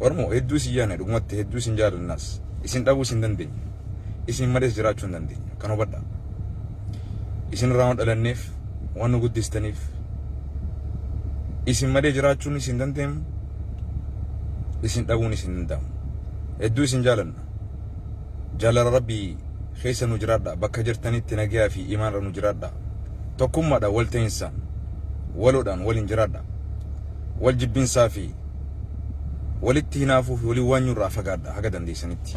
Oromoo hedduu isin yaadna dhugumatti hedduu isin jaalannas isin dhabuus hin dandeenye isin malees jiraachuu hin dandeenye kan hubadha isin irraa waan dhalanneef waan nu guddistaniif isin malee jiraachuun isin dandeenyu isin dhabuun isin danda'amu hedduu isin jaalanna jaalala rabbii keessa nu jiraadha bakka jirtanitti nagaa fi imaanra nu jiraadha tokkummaadhaan wal ta'insaan waloodhaan waliin jiraadha wal jibbinsaa fi Walitti hinaafuu fi waliin waanyuu irraa fagaadha haga dandeessanitti.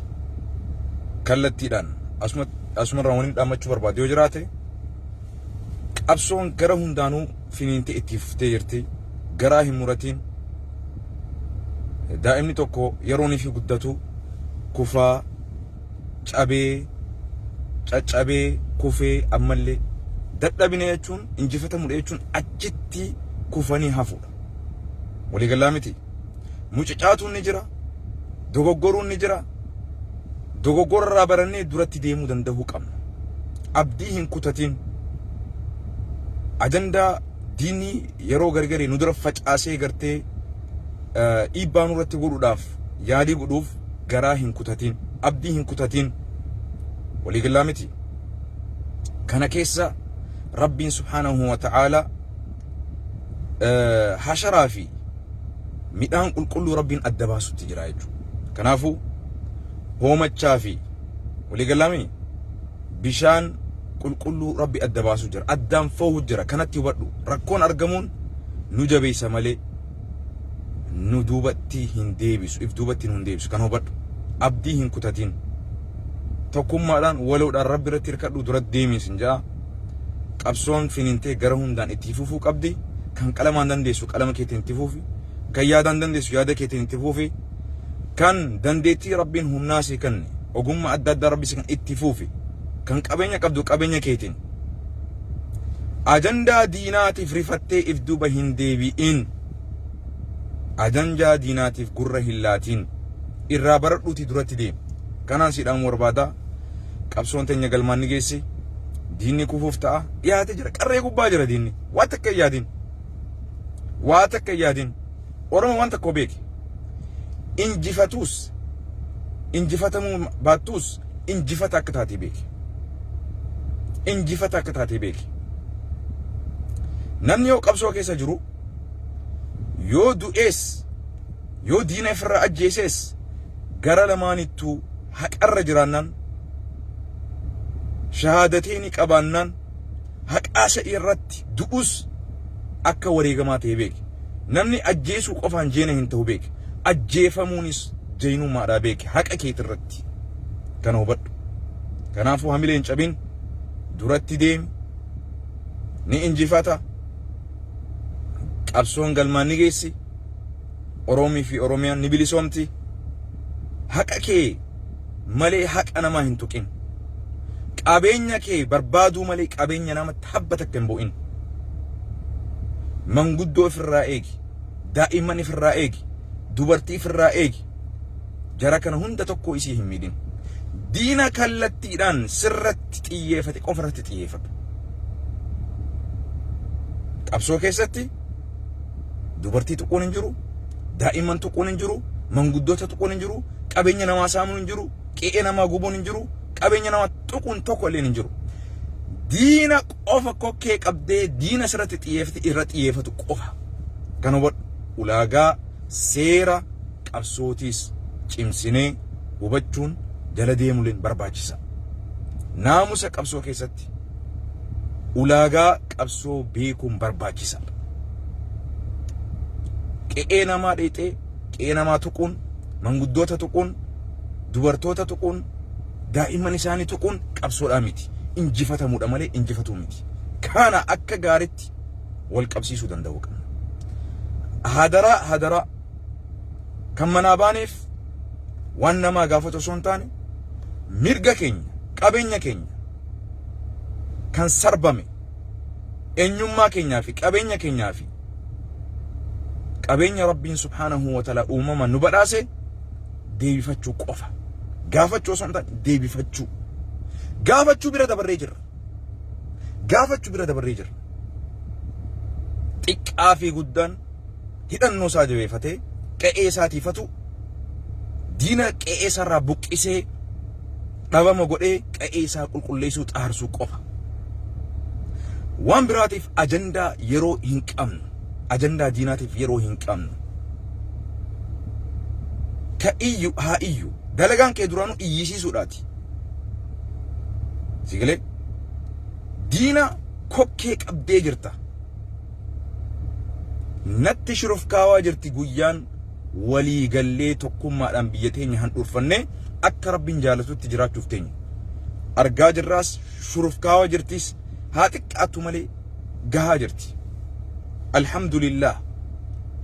Kallattiidhaan asuma asuma irraa waliin dhaammachuu barbaadu yoo jiraate qabsoon gara hundaanuu finiintee itti fuftee jirti. Garaa hin muratiin. Daa'imni tokko yeroon fi guddatu kufaa cabee caccabee kufee ammallee dadhabina jechuun injifatamudha jechuun achitti kufanii hafuudha. Walii gallaa miti. Mucucaatuun ni jira. Dogoggoruun ni jira. Dogoggora irraa barannee duratti deemuu danda'uu qabna. Abdii hin kutatiin. Ajandaa diinni yeroo gargari nu dura facaasee gartee dhiibbaa nurratti godhuudhaaf yaalii godhuuf garaa hin kutatiin. Abdii hin kutatiin. Walii gallaa miti. Kana keessa Rabbiin subhaanahu wa ta'aalaa hasharaa fi midhaan qulqulluu rabbiin adda baasutti jira jechuudha. Kanaafuu hoomachaa fi waliigalamii bishaan qulqulluu rabbi adda baasuu jira. Addaan foohu jira. Kanatti hubadhu. Rakkoon argamuun nu jabeessa malee nu duubatti hin deebisu. If duubatti nu hin deebisu. Kan hubadhu. Abdii hin kutatiin. Tokkummaadhaan waloodhaan rabbi irratti hirkadhu dura deemiin sin ja'a. Qabsoon finiintee gara hundaan itti fufuu qabdi. Kan qalamaan dandeessu qalama keetiin itti fufi. Kan yaadaan dandeessu yaada keetiin itti fufi. Kan dandeettii Rabbiin humnaa si kenne, ogummaa adda addaa Rabbi si kenne itti fufi. Kan qabeenya qabdu qabeenya keetiin. Ajandaa diinaatiif rifattee if duuba hin deebi'in. Ajandaa diinaatiif gurra hin laatiin. Irraa baradhuutii duratti deemi. Kanaan si dhaamuu barbaada. qabsoon teenya galmaan ni geessi. Diinni kufuuf ta'a. Dhiyaatee jira. Qarree gubbaa jira diinni. Waa takka hin yaadin. Waa takka hin yaadin. Oromoo waan tokko beeki. Injifatuus injifatamuu baattuus injifata akka taatee beeki. Injifata akka taatee beeki. Namni yoo qabsoo keessa jiru yoo du'ees yoo diina ofirraa ajjeesees gara lamaanittuu haqarra jiraannaan shahaadateeni qabaannaan haqaa isa irratti du'us akka wareegamaa ta'e beeki. Namni ajjeesuu qofaan jeena hin ta'u beeki. Ajjeefamuunis jeenummaadhaa beeki haqa keeti irratti. Kana hubadhu. Kanaafuu hamilee hin cabin duratti deemi ni injifata qabsoon galmaan ni geessi. Oroomii fi Oromiyaan ni bilisoomti. Haqa kee malee haqa namaa hin tuqin. Qabeenya kee barbaaduu malee qabeenya namatti habba takka hin bu'in. Manguddoo ifirraa eegi. Daa'imman ifirraa eegi. Dubartii ifirraa eegi. Jara kana hunda tokko isii hin miidhin. Diina kallattiidhaan sirratti xiyyeefate qofarratti xiyyeeffadhu. Qabsoo keessatti Dubartii tuquun hin jiru, daa'imman tuquun hin jiru, manguddoota tuquun hin jiru, qabeenya namaa saamuun hin jiru, qe'ee namaa gubuun hin jiru, qabeenya namaa tuquun tokko illee hin jiru. Diina qofa kokkee qabdee diina sirratti xiyyeeffate irra xiyyeeffatu qofa. Kan hubadhu ulaagaa seera qabsootiis cimsinee hubachuun jala deemuleen barbaachisa. Naamusa qabsoo keessatti keessatti ulaagaa qabsoo beekuun barbaachisaadha. Qe'ee namaa dheexee qe'ee namaa tuquun manguddoota tuquun dubartoota tuquun daa'imman isaanii tuquun qabsoodhaa miti injifatamuudha malee injifatuu miti. Kana akka gaaritti wal qabsiisuu danda'uu qabna. Hadaraa hadaraa kan manaa baaneef waan namaa gaafatu osoo hin taane mirga keenya qabeenya keenya kan sarbame eenyummaa keenyaa fi qabeenya keenyaa fi qabeenya rabbiin subhaanahu wa ta'ala uumama nu badhaase deebifachuu qofa gaafachuu osoo hin taane deebifachuu gaafachuu bira dabarree jirra gaafachuu bira dabarree jirra xiqqaa fi guddaan hidhannoo isaa jabeefatee qe'ee isaa tiifatu diina qe'ee isaa irraa buqqisee dhabama godhee qe'ee isaa qulqulleessuu xaarsuu qofa. Waan biraatiif ajandaa yeroo hin qabnu. Ajandaa diinaatiif yeroo hin qabnu. Ka iyyu haa iyyu. Dalagaan kee duraanuu iyyisiisuudhaati. Sigalee diina kokkee qabdee jirta. natti shurufkaawaa jirti guyyaan walii gallee tokkummaadhaan biyya teenya handhuurfannee akka rabbiin jaalatutti jiraachuuf teenya. Argaa jirraas shurufkaawaa jirtis haa xiqqaattu malee gahaa jirti. Alhamdulillah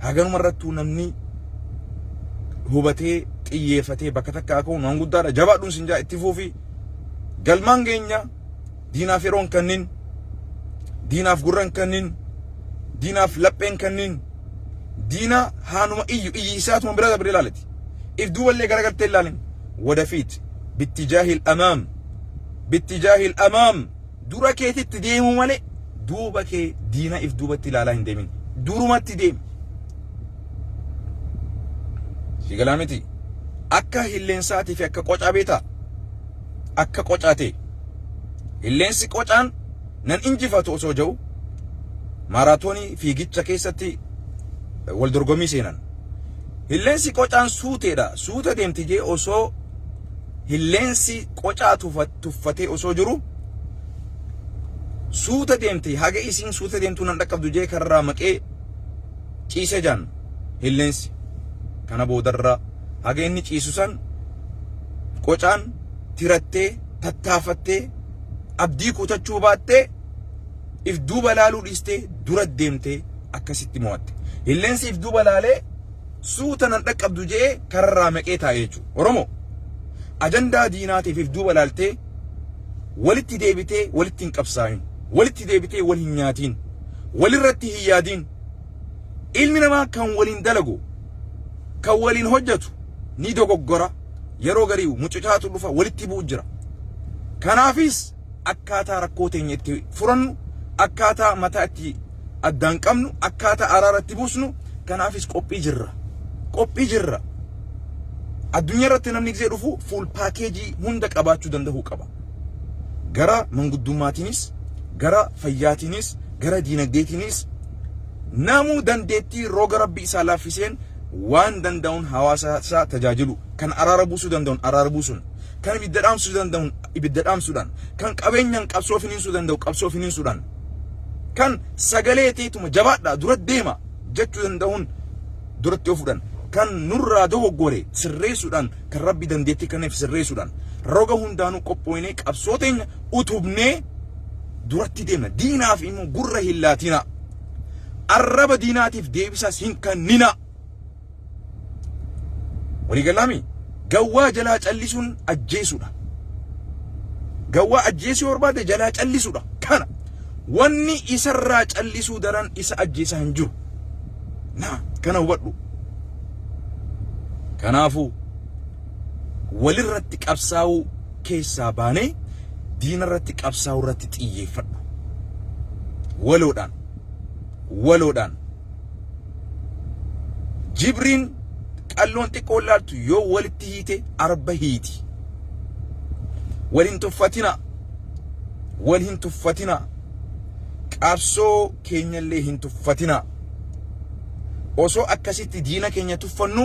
haganuma irrattuu namni hubatee xiyyeeffatee bakka takka akka uumaan guddaadha jabaadhuun sinjaa itti fuufi galmaan keenya diinaaf yeroon kannin diinaaf gurran kannin diinaaf lapheen kannin diina haanuma iyyu iyyi isaatuma bira dabre ilaalati if duuballee garagaltee ilaalin wadafiit bittijaahil amaam bittijaahil amaam dura keetitti deemuu malee duuba kee diina if duubatti ilaalaa hin deemin durumatti deemi si galaa miti akka hilleensaatiif akka qocaa beetaa akka qocaa ta'e. Illeensi qocaan nan injifatu osoo jedhu maaraatoonii fiigicha keessatti wal dorgommii seenan. Illeensi qocaan suuteedha. Suuta deemti jee osoo illeensi qocaa tuffatee osoo jiru suuta deemti haga isiin suuta deemtuu nan dhaqqabdu jee karraa maqee ciisee jaan illeensi. Kana boodarra haga inni ciisu san qocaan tirattee, tattaafattee, abdii kutachuu baattee, if duuba laaluu dhiistee dura deemtee akkasitti mo'atte. Hilleensi if duuba laalee suuta nan dhaqqabdu je'ee kararraa maqee taa'e jechuudha. Oromoo ajandaa diinaatiif if duuba laaltee walitti deebitee walitti hin qabsaa'in, walitti deebitee wal hin nyaatiin, walirratti hin yaadiin. Ilmi namaa kan waliin dalagu, kan waliin hojjetu ni dogoggora, yeroo garii mucucaatu dhufa, walitti bu'u jira. Kanaafis akkaataa rakkoo teenya itti furannu, akkaataa mataa itti addaan qabnu, akkaataa araara itti buusnu, kanaafis qophii jirra. Qophii jirra. Addunyaa irratti namni gisee dhufu fuul paakeejii hunda qabaachuu danda'uu qaba. Gara manguddumaatiinis, gara fayyaatiinis, gara diinagdeetiinis Namuu dandeettii roga Rabbi isaa laaffiseen waan danda'uun hawaasa isaa tajaajilu, kan araara buusuu danda'uun araara buusuun, kan ibidda dhaamsuu danda'uun ibidda dhaamsuudhaan, kan qabeenyaan qabsoo finiinsuu danda'u qabsoo finiinsuudhaan, kan sagalee teetuma jabaadhaa dura deema jechuu danda'uun duratti ofuudhaan, kan nurraa dogoggore sirreessuudhaan, kan Rabbi dandeettii kenneef sirreessuudhaan, roga hundaanuu qophooynee qabsoo teenya utubnee duratti deemna. Diinaaf immoo gurra hin laatinaa. Arraba diinaatiif deebisaas hin kanninaa. Walii gallaami? Gawwaa jalaa callisuun ajjeesuudha. Gawwaa ajjeesuu yoo barbaadde jalaa callisuudha. Kana wanni isarraa callisuu daran isa ajjeesaa hin jiru. Naa kana hubadhu. Kanaafuu Walirratti qabsaa'uu keessaa baanee diinarratti qabsaa'urratti xiyyeeffadhu. Waloodhaan. Waloodhaan. Jibriin qalloon xiqqoon laaltu yoo walitti hiite arba hiiti. Wal hin tuffatinaa. Wal hin tuffatinaa. Qabsoo keenyallee hin tuffatinaa. Osoo akkasitti diina keenya tuffannu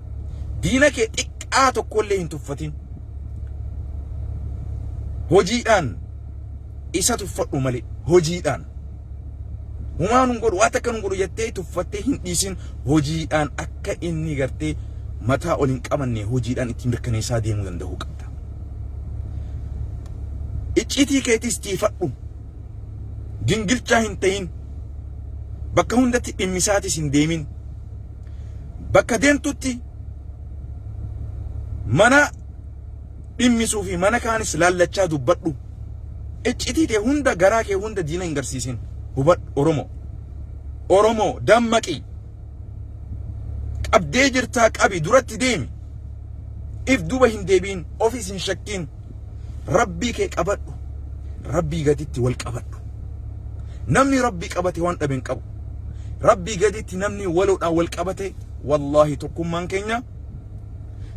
Diina kee xiqqaa tokkollee hin tuffatin. Hojiidhaan isa tuffadhu malee hojiidhaan. Humaa nun godhu waan takka nun godhu jettee tuffattee hin dhiisin hojiidhaan akka inni gartee mataa ol hin qabanne hojiidhaan itti mirkaneessaa deemuu danda'uu qabda. Icciitii keetis tiifadhu. Gingilchaa hin ta'in. Bakka hundatti dhimmisaatis hin deemin. bakka deemtutti mana dhimmisuu fi mana kaanis laallachaa dubbadhu. Iccitii tee hunda garaa kee hunda diina hin garsiisin. Hubadhu Oromoo. Oromoo dammaqi. Qabdee jirtaa qabi duratti deemi. If duba hin deebiin ofis hin shakkiin. Rabbii kee qabadhu. Rabbii gaditti wal qabadhu. Namni Rabbii qabate waan dhabe hin qabu. Rabbii gaditti namni waloodhaan wal qabate wallaahi tokkummaan keenya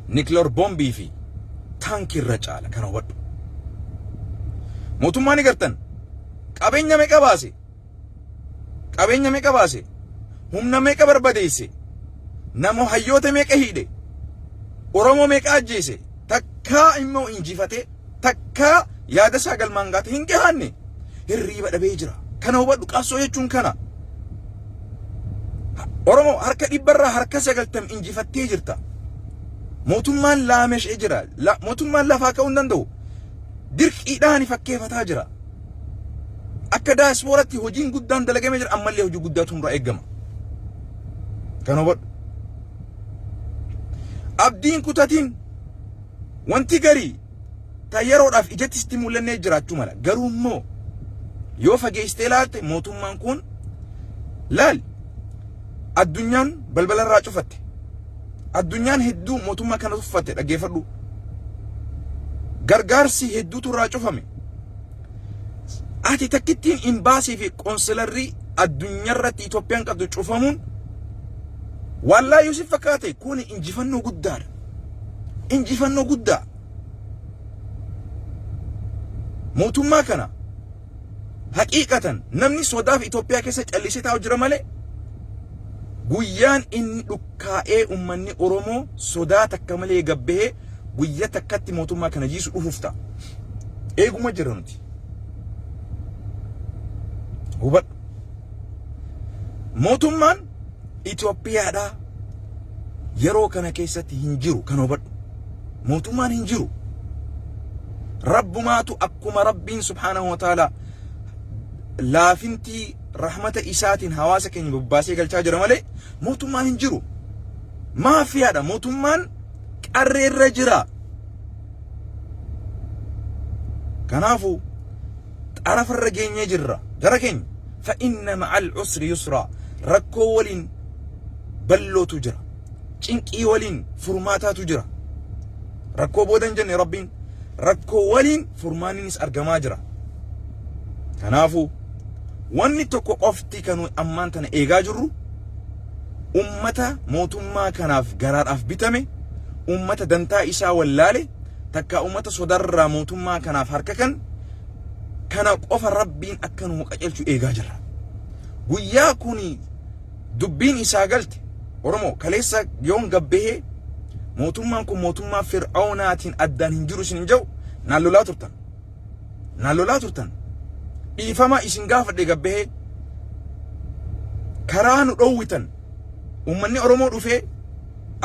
nikiloor boombii fi taankii irra caala kana hubadhu. Mootummaa ni gartan qabeenya meeqa baase Qabeenya meeqa baase? Humna meeqa barbadeesse? Namo hayyoota meeqa hiidhe? Oromoo meeqa ajjeese? Takkaa immoo injifatee takkaa yaada isaa galmaan gaate hin gahanne hirriiba dhabee jira. Kana hubadhu qabsoo jechuun kana. Oromoo harka dhibbarraa harka sagaltam injifattee jirta. Mootummaan laameshee jira. Mootummaan lafaa ka'uu hin danda'u. Dirqiidhaan fakkeeffataa jira. Akka daayispooratti hojiin guddaan dalagamee jira ammallee hojii guddaatu nurraa eegama. Kan hubadhu. Abdiin kutatiin wanti garii ta yeroodhaaf ijatti sitti mul'annee jiraachuu mala. Garuu immoo yoo fageessitee ilaalte mootummaan kun laal addunyaan balbalarraa cufatte. Addunyaan hedduu mootummaa kana tuffatte dhaggeeffadhu. Gargaarsi hedduutu irraa cufame. Ati takkittiin imbaasii fi qoonsilarrii addunyaarratti Itoophiyaan qabdu cufamuun waallaa yoo si fakkaate kun injifannoo guddaadha. Injifannoo guddaa. Mootummaa kana Haqiiqatan namni sodaaf Itoophiyaa keessa callisee taa'u jira malee guyyaan inni dhukkaa'ee ummanni Oromoo sodaa takka malee gabbahee guyya takkatti mootummaa kana jiisu dhufuuf ta'a. Eeguma jira nuti. Hubadhu. Mootummaan Itoophiyaadhaa yeroo kana keessatti hin jiru kan hubadhu. Mootummaan hin jiru. Rabbumaatu akkuma Rabbiin subhaanahu wa ta'ala laafintii rahmata isaatiin hawaasa keenya bobbaasee galchaa jira malee mootummaan hin jiru. Maafiyaadha mootummaan qarreerra jira. Kanaafuu xarafa irra geenyee jirra gara keenya fa inna ma'al usri yusraa rakkoo waliin ballootu jira cinqii waliin furmaataatu jira rakkoo booda hin jenne rabbiin rakkoo waliin furmaanninis argamaa jira kanaafuu wanni tokko qofti kan nuyi ammaan tana eegaa jirru ummata mootummaa kanaaf garaadhaaf bitame ummata dantaa isaa wallaale takka ummata sodarraa mootummaa kanaaf harka kan kana qofa rabbiin akka nu qajeelchu eegaa jirra guyyaa kun dubbiin isaa galte oromoo kaleessa yoon gabbahee mootummaan kun mootummaa fir'aunaatiin addaan hin jiru isin hin jedhu naan lolaa turtan naan lolaa turtan dhiifama isin gaafadhe gabbahee karaa nu dhoowwitan ummanni oromoo dhufee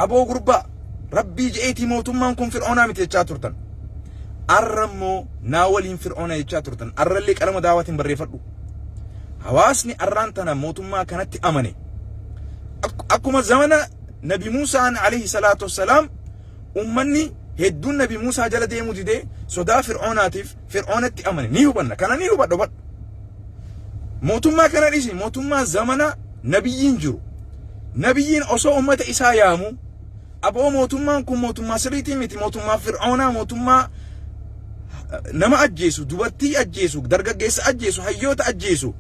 Aboo gurbaa rabbii je'eetii mootummaan kun fir'oonaa miti jechaa turtan. Arra immoo naa waliin fir'oona jechaa turtan. Arrallee qalama daawaatiin barreeffadhu. Hawaasni arraan tana mootummaa kanatti amane. Ak- Akkuma zamana Nabi Muusaan alayhi salaatu wassalaam ummanni hedduun Nabi Muusaa jala deemuu didee sodaa fir'oonaatiif Fir'oonatti amane ni hubanna. Kana ni hubadhu badhu. Mootummaa kana dhiisi mootummaa zamana nabiyyiin jiru. Nabiyyiin osoo ummata isaa yaamu aboo mootummaan kun mootummaa sirriitii miti mootummaa fir'oonaa mootummaa nama ajjeesu dubartii ajjeesu dargaggeessa ajjeesu hayyoota ajjeesu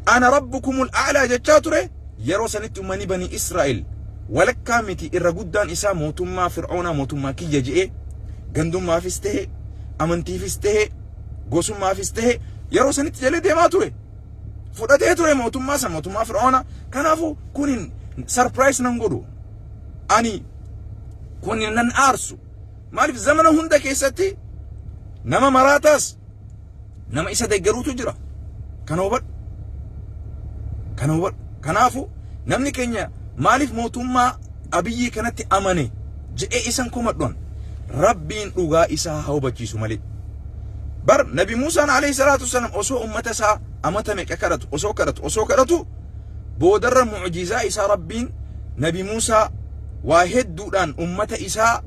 ana rabbukumul a'laa jechaa ture yeroo sanitti ummani banii Israa'el walakkaa miti irra guddaan isaa mootummaa fir'oonaa mootummaa kiyya je'ee Gandummaafis ta'e, amantiifis ta'e, gosummaafis ta'e yeroo sanitti jalee deemaa ture. Fudhatee ture mootummaa san mootummaa Fir'aawna. Kanaafuu kun hin sarpiraayis nan godhu. Ani kun nan aarsu. Maaliif zamana hunda keessatti nama maraataas nama isa deggeruutu jira. Kana hubadhu. Kana hubadhu. Kanaafuu namni keenya maaliif mootummaa abiyyii kanatti amane jedhee isan komadhuan rabbiin dhugaa isaa haa hubachiisu malee. Bar nabi Muusaan alayhi salaatu wassalaam osoo ummata isaa amata meeqa kadhatu osoo kadhatu osoo kadhatu boodarra mucjizaa isaa rabbiin nabi Muusaa waa hedduudhaan ummata isaa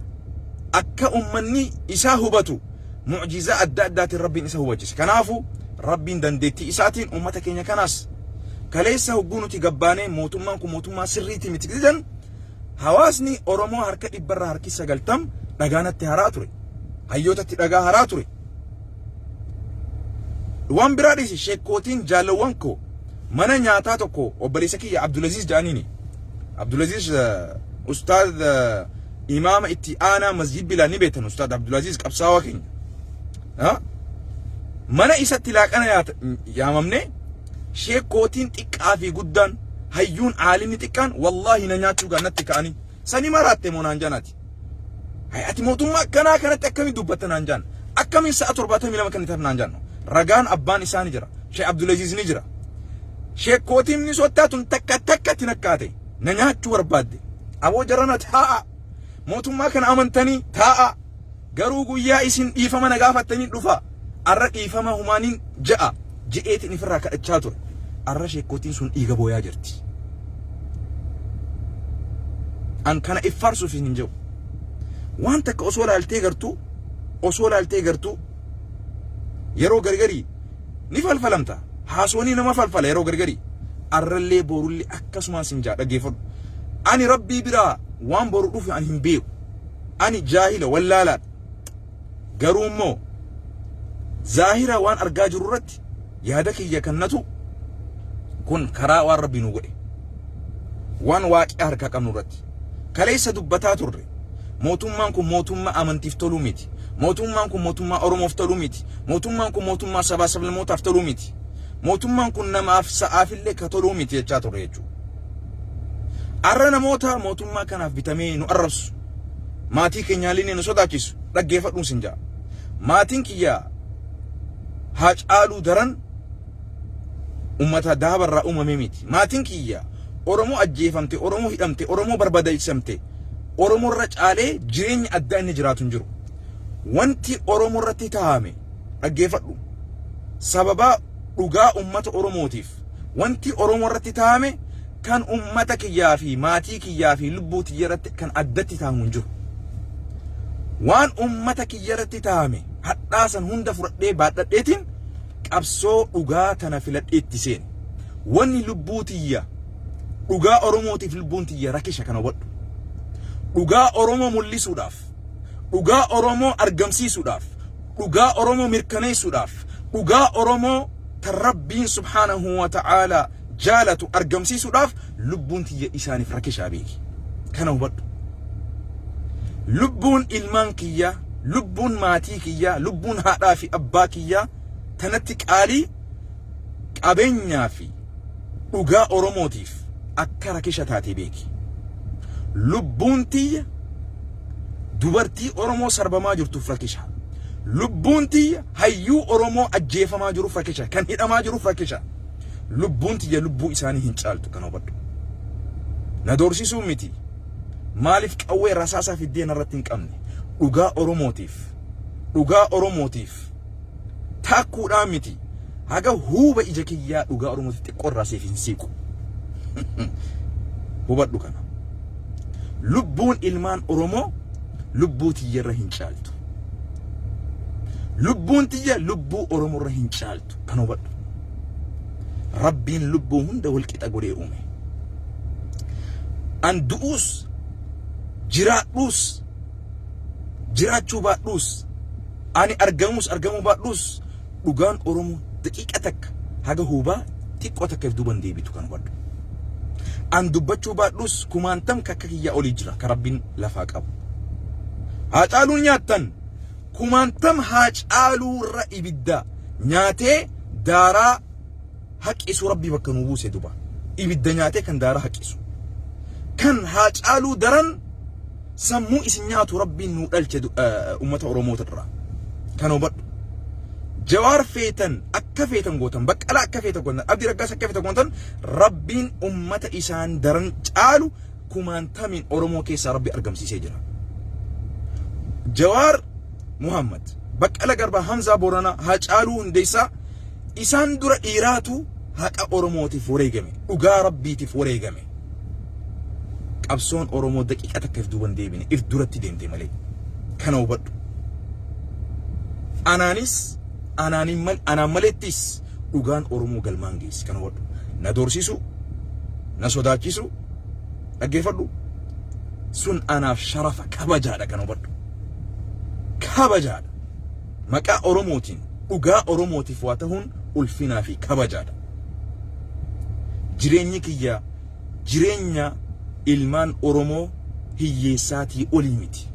akka ummanni isaa hubatu mu'jizaa adda addaatiin Rabbiin isa hubachise. Kanaafu Rabbiin dandeettii isaatiin ummata keenya kanaas kaleessa hogguu nuti gabbaanee mootummaan kun mootummaa sirriitii miti jedhan hawaasni Oromoo harka dhibbarraa harki sagaltam dhagaa natti haraa ture. Hayyootatti dhagaa haraa ture. Waan biraa dhiisi sheekkootiin jaalawwan koo mana nyaataa tokko obboleessa kiyya Abdulaziz jedhaniini. Abdulaziz ustaaz imaama itti aanaa masjid bilaa ni beektan ustaad abdulaziz qabsaawaa keenya Ha? mana isatti laaqana yaata- yaamamne sheekkootiin xiqqaa fi guddaan hayyuun aalimni xiqqaan wallaahi na nyaachuu kan natti ka'anii sani maraatte moo naan janaati Hai, ati mootummaa akkanaa kanatti akkamiin dubbatta naan jaan akkamiin sa'a torbaatamii lama kennitaaf naan jaanno ragaan abbaan isaa ni jira sheekh abdulaziz ni jira sheekkootiin ni sottaa tun takka takkatti nakkaate na nyaachuu barbaadde aboo jarana taa'a mootummaa kana amantanii taa'a garuu guyyaa isin dhiifama na gaafattanii dhufa arra dhiifama humaaniin ja'a je'eetiin ifirraa kadhachaa ture arra sheekkootiin sun dhiiga booyaa jirti an kana iffaarsuuf hin jedhu waan takka osoo laaltee gartuu osoo laaltee gartuu Yeroo gargarii ni falfalamta. Haaswanii nama falfala yeroo gargarii. Arrallee boorullee akkasumaan sin jaa dhaggeeffadhu. Ani rabbii biraa waan boru dhufu ani hin beeku. Ani jaahila wallaalaadha. Garuu immoo zaahira waan argaa jiru irratti yaada kiyya kannatu kun karaa waan rabbii nu godhe. Waan waaqii harkaa qabnu irratti. Kaleessa dubbataa turre. Mootummaan kun mootummaa amantiif toluu miti. Mootummaan kun mootummaa Oromoof toluu miti. Mootummaan kun mootummaa sabaa sablammootaaf toluu miti. Mootummaan kun namaaf sa'aafillee ka toluu miti jechaa turre jechuudha. Arra namoota mootummaa kanaaf bitamee nu arrabsu maatii keenyaallee nu sodaachisu dhaggeeffadhuun sin ja'a. Maatiin kiyya haa caaluu daran ummata daabarraa uumamee miti. Maatiin kiyya Oromoo ajjeefamte, Oromoo hidhamte, Oromoo barbadaa'ifamte. Oromoo irra caalee jireenyi addaa inni jiraatu hin jiru. Wanti Oromoo irratti taa'ame dhaggeeffadhu. Sababaa dhugaa uummata Oromootiif wanti Oromoo irratti taa'ame kan uummata kiyyaa fi maatii kiyyaa fi lubbuu tiyya irratti kan addatti taa'amu hin jiru. Waan uummata kiyya irratti taa'ame hadhaa san hunda fudhadhee baadhadheetiin qabsoo dhugaa tana filadhee itti seene. Wanni lubbuu tiyya Dhugaa Oromootiif lubbuun tiyya rakisha kana hubadhu. Dhugaa Oromoo mul'isuudhaaf, dhugaa Oromoo argamsiisuudhaaf, dhugaa Oromoo mirkaneessuudhaaf, dhugaa Oromoo tan Rabbiin subhaanahu wa ta'aalaa jaalatu argamsiisuudhaaf lubbuun tiyya isaaniif rakishaa beeki. Kana hubadhu. Lubbuun ilmaan kiyyaa, lubbuun maatii kiyyaa, lubbuun haadhaa fi abbaa kiyyaa tanatti qaalii qabeenyaa fi Dhugaa Oromootiif akka rakisha taate beeki. Lubbuun tiyya dubartii Oromoo sarbamaa jirtuuf rakisha. Lubbuun tiyya hayyuu Oromoo ajjeefamaa jiruuf rakisha. Kan hidhamaa jiruuf rakisha. Lubbuun tiyya lubbuu isaanii hin caaltu kana hubadhu. Na doorsisuu miti. Maaliif qawwee rasaasaa fiddee narratti hin qabne? Dhugaa Oromootiif. Dhugaa Oromootiif. Taakkuudhaan miti. Haga huuba ija kiyyaa dhugaa Oromooti xiqqoo irraa siif hin siiqu. Hubadhu kana. Lubbuun ilmaan Oromoo lubbuu tiyyarra hin caaltu. Lubbuun tiyya lubbuu Oromoorra hin caaltu. Kan hubadhu. Rabbiin lubbuu hunda walqixa godhee uume. An du'uus jiraadhuus jiraachuu baadhuus ani argamuus argamuu baadhuus dhugaan Oromoo daqiiqa takka haga huubaa xiqqoo takka if duuban deebitu kan hubadhu. An dubbachuu baadhuus kumaantam kakka kiyyaa olii jira ka rabbiin lafaa qabu. Haacaaluu nyaattan kumaantam haacaaluu irra ibidda nyaatee daaraa haqisuu rabbii bakka nuu buuse duba ibidda nyaatee kan daara haqisu kan haa caaluu daran sammuu isin nyaatu rabbiin nuu dhalche ummata oromoo irraa kan hubadhu jawaar feetan akka feetan gootan baqqala akka feetan gootan abdi raggaas akka feetan gootan rabbiin ummata isaan daran caalu kumaantamiin oromoo keessaa rabbi argamsiisee jira jawaar Muhammad, Baqqala Garbaa, Hamzaa Booranaa, Hacaaluu Hundeessaa isaan dura dhiiraatu haqa Oromootiif wareegame, dhugaa Rabbiitiif wareegame. Qabsoon Oromoo daqiiqa takka if duuban deebine, if duratti deemte malee. Kana hubadhu. Anaanis, anaanin mal, anaan maleettis dhugaan Oromoo galmaan geessi. Kana hubadhu. Na doorsisu, na sodaachisu, dhaggeeffadhu. Sun anaaf sharafa kabajaadha kana hubadhu. kabajaadha. Maqaa Oromootiin dhugaa Oromootiif waa tahuun ulfinaa fi kabajaadha. Jireenyi kiyya jireenya ilmaan Oromoo hiyyeessaatii olii miti.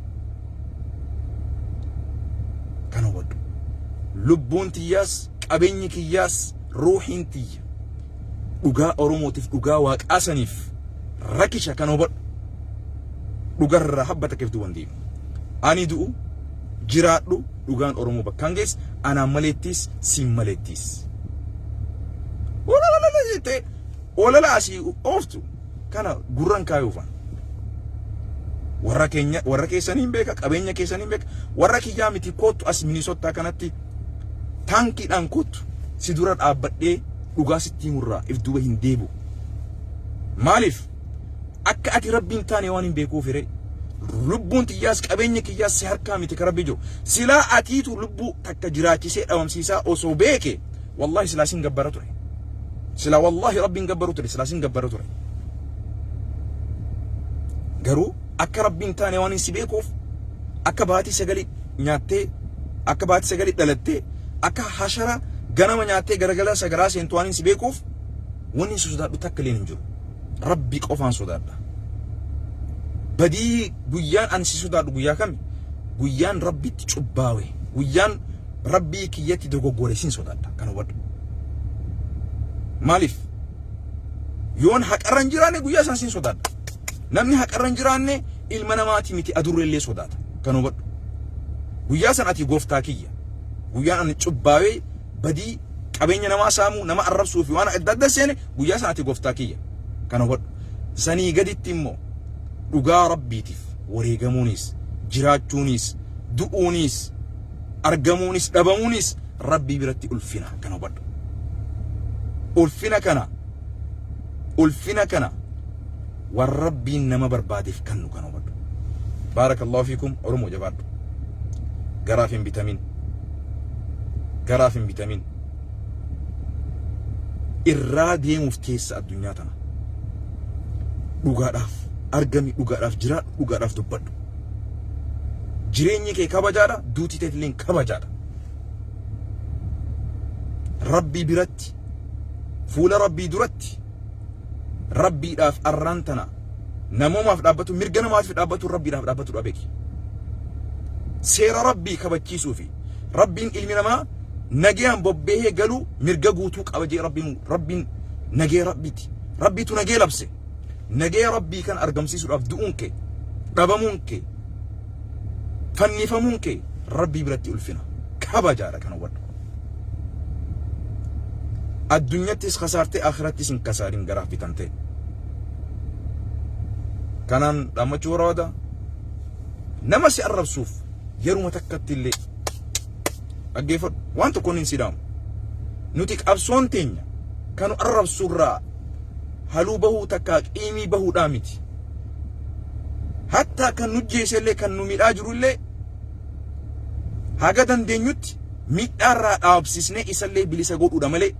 Kan hubadhu. Lubbuun tiyyaas qabeenyi kiyyaas ruuhiin tiyya. dhugaa oromootiif dhugaa waaqaa saniif rakisha kan hubadhu dhugarraa habba takkeef duuban deemu ani du'u jiraadhu dhugaan oromoo bakkaan gees anaan maleettiis siin maleettiis ololololo jettee olala asii ooftu kana gurran kaayuufan warra keenya warra keessanii hin beeka qabeenya keessanii hin beeka warra kiyyaa miti koottu as minisottaa kanatti Taankiidhaan kottu si dura dhaabbadhee dhugaa sitti himurraa if duuba hin deebi'u. Maaliif? Akka ati Rabbi hin taane waan hin beekuuf hiree. Lubbuun tiyyaas qabeenya kiyyaas si harkaa miti ka Rabbi jiru. Silaa atiitu lubbuu takka jiraachisee dhabamsiisaa osoo beeke wallahi silaa sin gabbara ture. Silaa wallahi Rabbi hin gabbaru ture silaa sin gabbara ture. Garuu akka rabbi hin taane waan hin si beekuuf akka baatii sagali nyaattee akka baatii sagali dhalattee akka hashara ganama nyaattee garagala sagaraa seentu waan hin si beekuuf wanni si sodaadhu takka illee hin jiru rabbi qofaan sodaadha badii guyyaan ani si sodaadhu guyyaa kami guyyaan rabbitti cubbaawe guyyaan rabbii kiyyatti dogoggore sin sodaadha kan hubadhu maaliif yoon haqarra hin jiraanne guyyaa isaan sin sodaadha Namni haqarra hin jiraanne ilma namaatii miti adurree illee sodaata. Kana hubadhu. Guyyaa san ati gooftaa kiyya. Guyyaan ani cubbaawee badii qabeenya namaa saamuu nama arrabsuu fi waan adda adda seene guyyaa san ati gooftaa kiyya. Kana hubadhu. Sanii gaditti immoo dhugaa rabbiitiif wareegamuunis jiraachuunis du'uunis argamuunis dhabamuunis rabbii biratti ulfina kana hubadhu. Ulfina kana ulfina kana waan rabbiin nama barbaadeef kannu kana hubadhu baarakallahu fiikum oromoo jabaadhu garaaf hin bitamin garaaf hin bitamin irraa deemuuf teessa addunyaa tana dhugaadhaaf argami dhugaadhaaf jiraadhu dhugaadhaaf dubbadhu jireenyi kee kabajaadha duuti teetilleen kabajaadha rabbii biratti fuula rabbii duratti rabbiidhaaf arraan tana namoomaaf dhaabbatu mirga namaatiif dhaabbatu rabbiidhaaf dhaabbatu dha beeki seera rabbii kabachiisuu fi rabbiin ilmi namaa nagayaan bobbahee galuu mirga guutuu qaba jee rabbiin rabbiin nagaya rabbiiti rabbiitu nagaya labse nagaya rabbii kan argamsiisuudhaaf du'uun kee dhabamuun kee Fannifamuun kee Rabbii biratti ulfina, kabajaadha kan hubadhu. Addunyattis kasaartee akhirattis hin kasaarin garaaf bitamtee. Kanaan dhaammachuu barbaada. Nama si arrabsuuf yeruma takkatti illee dhaggeeffadhu. Waan tokkoon hin sidaamu. Nuti qabsoon teenya kanu arrabsuurraa haluu bahuu takkaa qiimii bahuudhaa miti. hattaa kan nu jeese illee kan nu midhaa jiru illee haga dandeenyutti midhaa irraa dhaabsisnee isa illee bilisa godhuudha malee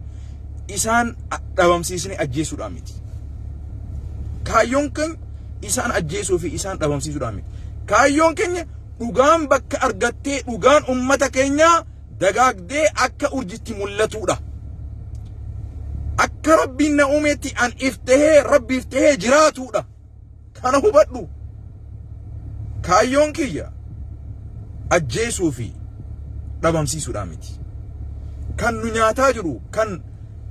isaan dhabamsiisnee ajjeesuudhaan miti. Kaayyoon keenya isaan ajjeesuu fi isaan dhabamsiisuudhaan miti. Kaayyoon keenya dhugaan bakka argattee dhugaan ummata keenyaa dagaagdee akka urjitti mul'atuudha. Akka rabbiin na uumeetti an if tahee rabbiif tahee jiraatuudha. Kana hubadhu. Kaayyoon kiyya ajjeesuu fi dhabamsiisuudhaan miti. Kan nu nyaataa jiru, kan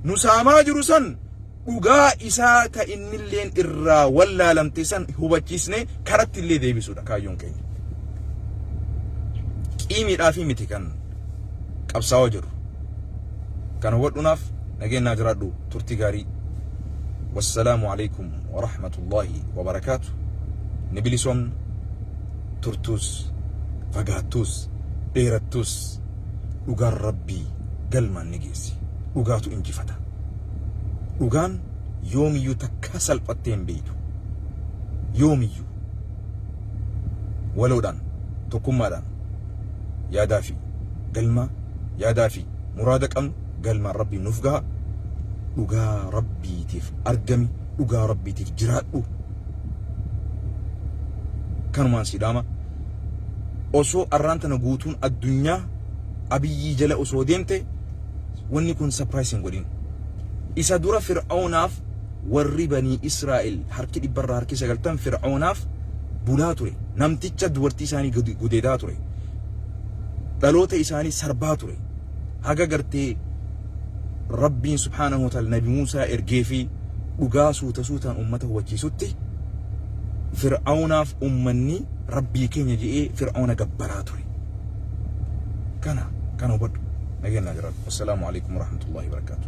nu saamaa jiru san dhugaa isaa ka innilleen irraa wallaalamte san hubachiisnee karatti illee deebisuudha kaayyoon keenya. Qiimiidhaa fi miti kan qabsaawaa jiru. Kan hubadhuunaaf nageenyaa jiraadhu turtii gaarii. Wassalaamu alaikum wa rahmatullahi wa barakaatu. Ni bilisoomna turtuus fagaattuus dheerattuus dhugaan rabbii galmaan ni geessi. Dhugaatu injifata. Dhugaan yoomiyyuu takkaa salphattee hin beektu. Yoomiyyuu waloodhaan tokkummaadhaan yaadaa fi galmaa yaadaa fi muraada qabnu galmaan rabbii nuuf gaha. Dhugaa rabbiitiif argami dhugaa rabbiitiif jiraadhu. Kanumaan siidhaama osoo arraan tana guutuun addunyaa abiyyii jala osoo deemte Wanni kun surprise hin godhin. Isa dura Fir'aunaaf warri banii Israa'el harki dhibbarraa harki sagaltan Fir'aunaaf bulaa ture. Namticha dubartii isaanii gud- gudeedaa ture. Dhaloota isaanii sarbaa ture. Haga gartee Rabbiin subhaanahu wa ta'ala Nabi Muusaa ergee fi dhugaa suuta suutaan ummata hubachiisutti Fir'aunaaf ummanni Rabbii keenya je'ee Fir'auna gabbaraa ture. kana kana hubadhu nageenyaa jiraadhu assalaamu alaikum warahmatullahi wabarakaatu